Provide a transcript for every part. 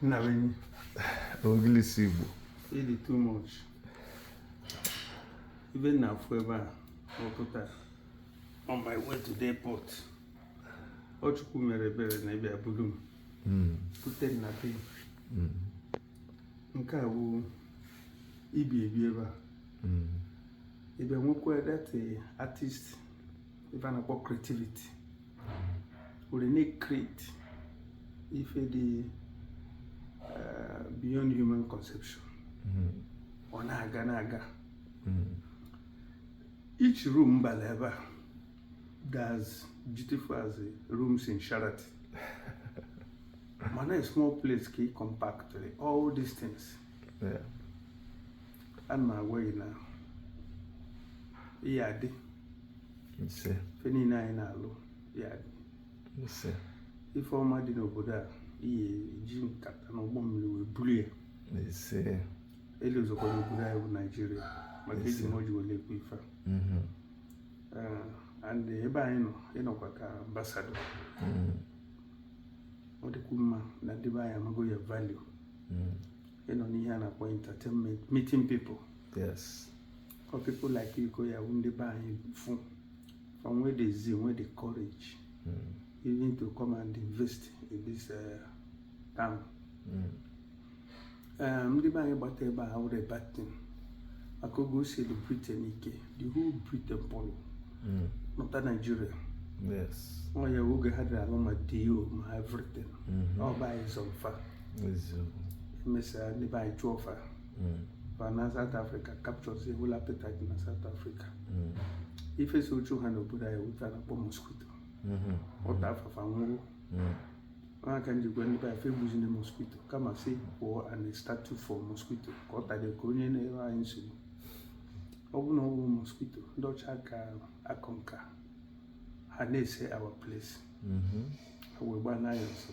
nna be anyị ogilisi igbo ị dị too much ibe nna afụ ebe a ọ pụtara on my way to the airport ọ chukwu mere ebere na ị bịa bulu m hmm. bute m na be hmm. nke a bụ i bi ebi ebe a hmm. ebe nwekwa that artist ife a na-akpọ creativity were na-create ife dị eh, beyond human conception hmm. ọ na-aga na-aga hmm. each room bala ebe a dị as beautiful as rooms in Sheraton mana a small place ka ị compact all these things ana m agwa gị na ya adị ife niile anyị na-alụ ya adị ife ọma dị n'obodo a ị ya-eji nkata na ụgbọ mmiri wee buru ya elu ọzọkwa n'obodo anyị bụ naijiria maka eji m ọjị wele ekwu ife mm-hmm. eh, and ebe anyị nọ ị nọkwa ka ambassador mm-hmm. ọ dịkwu mma na ndị be anyị amago your value mm-hmm. ị nọ n'ihe a na-akpọ entertainment meeting people yes for people like you go ya ndị be anyị fụ from where they see where they courage mm. even to come and invest in this uh, town mm. um, ndị be anyị gbata ebe a wụrụ batin maka oge o side Britain ike the whole Britain pụlụ mm. nọta Nigeria yes ọ ya oge ha dịrị alụ ma dio ma everything mm-hmm. ọ bụ anyị zọ fa emesịa ndị be anyị chụọ fa fa naa South Africa captures a whole apartheid na South Africa ife chụ ha n'obodo anyị wụ ife a na-akpọ mosquito ọ taa fa fa nwụrụ aka m ji gwa ndị be anyị fa egbuzina mosquito kama sị kpụọ a statue for mosquito ka ọ tara ka onye na-enye anyị nsogbu ọ bụrụ na ọ bụrọ mosquito ndị ọcha ka akụ nka ha na-ese our place ha wee gbanaa anyị ọsọ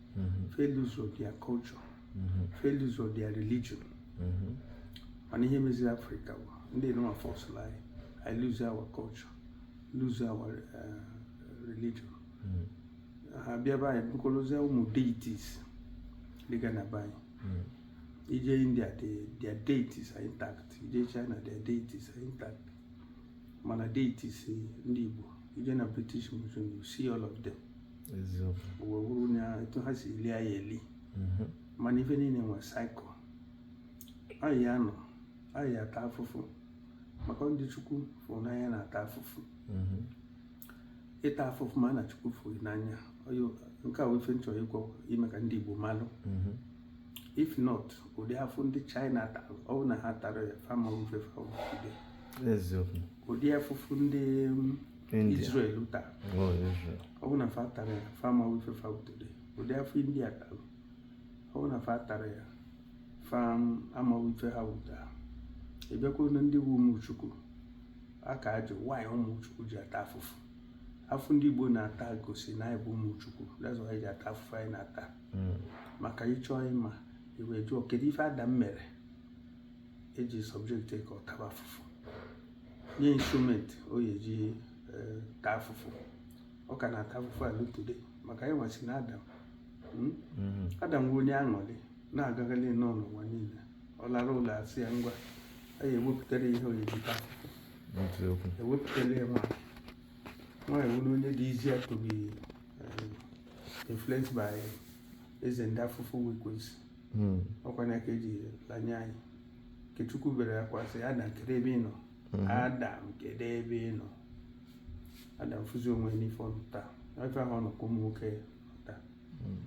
mm-hmm. failures of their culture mm-hmm. failures of their religion mm-hmm. mana ihe meziri afrịka bụ ndị nọma forcelụ anyị i lose our culture lose our uh, religion ha bịa be anyị bukọrọzie ụmụ deities dịga na be anyị i je india their deities are intact i je china their deities are intact mana deities ndị igbo i je na british museum you see all of them o wee bụrụ na etu ha si lie ya eli mhm. mana ife niile nwe cycle anyị anọ anyị ata afụfụ maka ndị chukwu fụrụ n'anya na-ata afụfụ mhm. ịta afụfụ mara na chukwu fụrụ n'anya nke a wụ ife m chọrọ ịgwa ime ka ndị igbo malụ mhm. if not ụdị afụfụ ndị china tara ọ bụ na ha tara ya fa ama awụ ife fa ụdị afụfụ ndị Israel tara ọ bụ na fa tara ya fa ama abụ ife fa bụ taa ụdị afụfụ india tara ọ bụ na fa tara ya fa ama awụ ife ha wụ taa ị bịakwa na ndị wụ ụmụ chukwu a ka ajụ why ụmụ chukwu ji ata afụfụ afụfụ ndị igbo na-ata gosi na anyị bụ ụmụ chukwu that's why anyị ji ata afụfụ anyị na-ata hmm. maka ịchọ ịma i wee jụọ kedu ife adam mere e ji subject ka ọ taba afụfụ nye instrument ọ ya eji eh, taa afụfụ ọ ka na-ata afụfụ a lue today maka anyị nwa si na adam hmm? mm-hmm. adam bụ onye aṅụrị na-agagharị nnọọ n'ụwa niile ọ larụ ụla a sị ya ngwa anyị ewepụtara ihe ọ ya eji taa afụfụ ewepụtara ya nwa nwaanyị wụ onye dị easier to be eh, influenced by eze ndị afụfụ wụ ekwensu hmm. ọkwa na ka eji lanye anyị nke chukwu bere akwa sị adam kedu ebe ị nọ hmm. adam kedu ebe ị nọ adam fụzi onwe ya n'ife ọ nọ taa ife ahụ ọ nọkwa ụmụ nwoke taa hmm.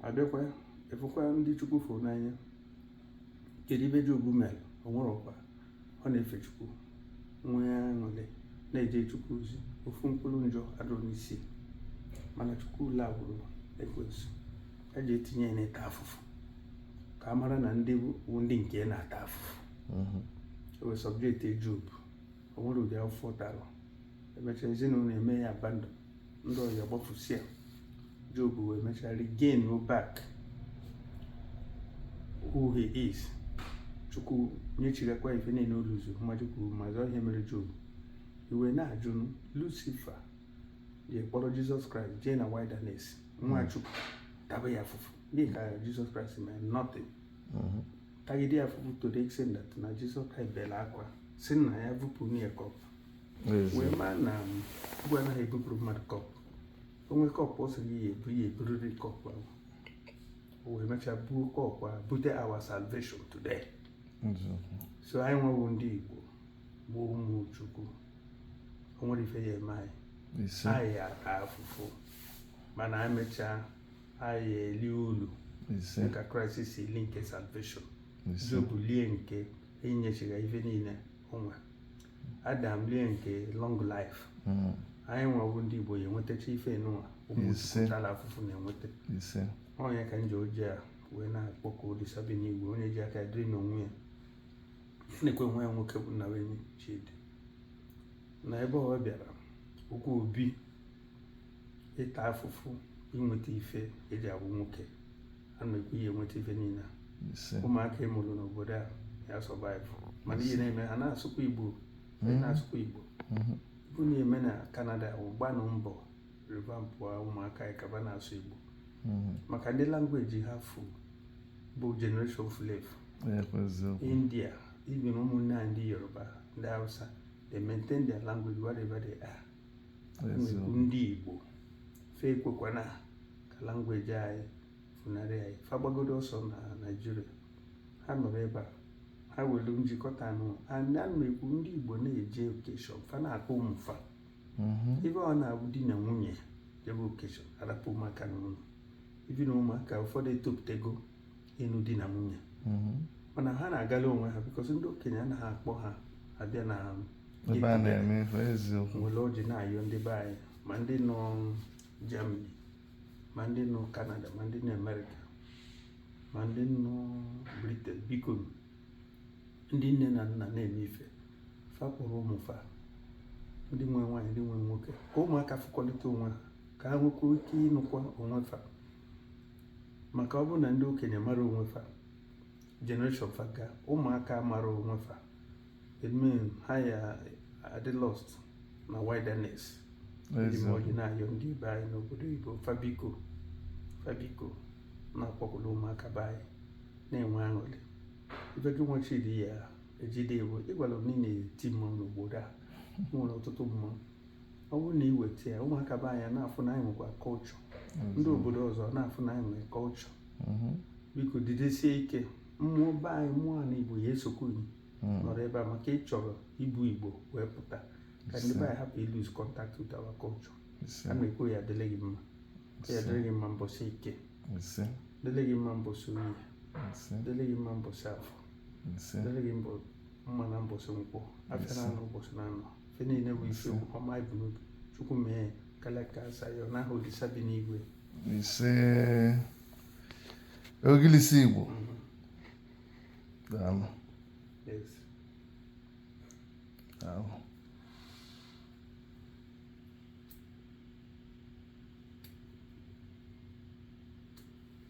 a bịakwa ị fụkwa ndị chukwu fụrụ n'anya kedu ife job mere o nwere ọkwa ọ na-efe chukwu nwee aṅụrị na-eje chukwu ozi ofu mkpụrụ njọ adịrọ n'isi mana chukwu allowụrụ ekwensu ya jee tinye ya n'ịta afụfụ ka a mara na ndị bụ ndị nke ya na-ata afụfụ mhm. o wee subjectie job o nwere ụdị afụfụ ọ tara emechaa ezinụlọ ya emee ya abandon ndị ọyị ya agbafusịa Job wee mechaa regain back who he is chukwu nyechighakwa ife niile o lose mmadụ kwuru ma zọọ ihe mere Job i wee na-ajụ Lucifer ya kpọrọ Jizọs Kraịst jee na wilderness nwa hmm. chukwu taba ya afụfụ n'ihi ka Jizọs Kraịst mee nothing hmm. tagide ya afụfụ to the extent that na Jizọs Kraịst bere akwa sị nna ya vupụrụ ya cup wee mara na igwe um, anaghị ebupụrụ mmadụ cup o nwere cup ọ sịrị ya ebu ya eburiri cup ahụ o wee mechaa buo cup ahụ bute our salvation today so anyị nwa wụ ndị Igbo bụ ụmụ Chukwu o nwere ife ya eme anyị anyị ya ata afụfụ mana anyị mechaa anyị elie ulu dịka Kraịst si lie nke salvation Job lie nke e nyechiga ya ife niile o nwere Adam lie nke long life hmm. anyị nwa bụ ndị Igbo ya enwetacha ife n'ụwa ụmụala afụfụ na-enweta onye ka m ji ọjị a wee na-akpọku Olisa bi n'igwe onye ji aka dịrị n'onwe ya na-ekwe nwa ya nwoke bụ Nnabuenyi Chidi na ebe ọ bịara okwu obi ịta afụfụ inweta ife eji abụ nwoke ana m ekwu i ya enweta ife niile a. Ise. ụmụaka ị mụrụ n'obodo a ya survive mana ihe na-eme ha na-asụkwa igbo ha na-asụkwa igbo Mhm. bụ na-eme na Canada gbanụ mbọ revamp ụmụaka anyị ka fa na-asụ igbo Mhm. maka ndị language ha fu bụ generation fulu efu Ya kwa eziokwu. india even ụmụnne anyị ndị yoruba ndị hausa they maintain their language wherever they are na m ekwu ndị Igbo fa ekwekwana ka language anyị funarị anyị fa gbagodu ọsọ na Nigeria ha nọrọ ebe a ha nwere njikọta ọnụ ana m ekwu ndị Igbo na-eje occasion fa na-akpọ ụmụ fa mm-hmm. ebe ọ na-abụ di na nwunye jebe occasion a rapụ ụmụaka n'ụlọ ibi na ụmụaka ụfọdụ etopụtego ịnụ di na nwunye mm-hmm. mana ha na-agala onwe ha because ndị okenye anaghị akpọ ha abịa na m were ọjị na-ayọ ndị be anyị ma ndị nọ Germany ma ndị nọ Canada ma ndị nọ America ma ndị nọ Britain biko ndị nne na nna na-eme ife fa kpọrọ ụmụ fa ndị nwe nwaanyị ndị nwe nwoke ka ụmụaka fụkọlịta onwe ha ka ha nwekwuo ike ịnụkwa onwe fa maka ọ bụrụ na ndị okenye mara onwe fa generation fa ga ụmụaka mara onwe fa it mean ha ya adị lost na wilderness eji m ọjị na-ayọ ndị be anyị n'obodo Igbo fa biko fa biko na-akpọkọta ụmụaka be anyị na-enwe aṅụrị ife gị nwa Chidi ya ejide bụ ị gwala m na ị na-eti mmanwụ n'obodo a nwere ọtụtụ mmanwụ ọ bụrụ na iweta ya ụmụaka be anyị a na-afụ na anyị nwekwa culture ndị obodo ọzọ na-afụ na anyị nwere culture mhm. biko didesie ike mmụọ be anyị mmụọ ala igbo ya esokwu gị mhm. nọrọ ebe a maka ị chọrọ ibu igbo wee pụta ka ndị be anyị hapụ ịlose contact with our culture ana m ekwu ya adịlị gị mma ya adịlị gị mma mbọsị eke adịlị gị mma mbọsị oye adịlị gị mma mbọsị afọ adịlị gị mma mma na mbọsị nkwọ afịa naanọ ụbọsị naanọ ife niile bụ ife ọma i bu n'obi chukwu mee karịa ka e si ayọ n'aha olisa bi n'igwe ise ogilisi igbo mhm. daalụ daalụ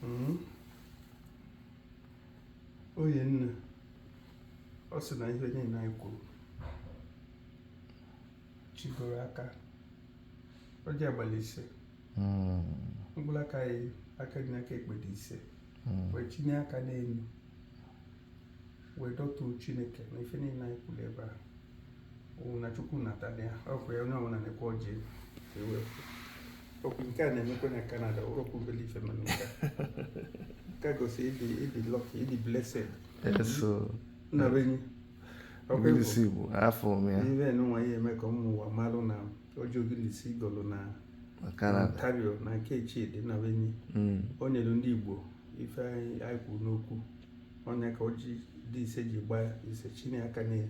hmm? oyi nna ọ sị na ife niile anyị kwuru chigoro aka ọjị a gbalụ ise hmm. mkpụrụ aka ya aka dị n'aka ekpe dị ise hmm. wee tinye aka n'elu wee dọtuo chineke na ife niile anyị kwuru ebe a na chukwu natana ya ọkwa ya onye ọbụla na-ekwe ọjị ewepụ okwu nke a na-emekwa na Canada okwu obele ife mana nke nke a gosi ịdị ịdị lucky ịdị blessed nna be anyị Ogilisi Igbo afọ m ya ibe nwa ihe eme ka ụmụ ụwa malụ na ọjị Ogilisi gọlụ na Ontario na nke Chidi nna be anyị o nyere ndị Igbo ife anyị kwuru n'okwu onye ka ọjị dị ise ji gbaa ise chinye aka n'ihe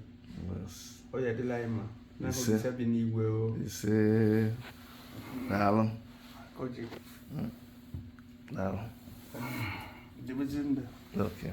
ọ ya dịlị anyị mma na Olisa bi n'igwe o ise daalụ ọjị hmm. daalụ dịbụzi ndụ okay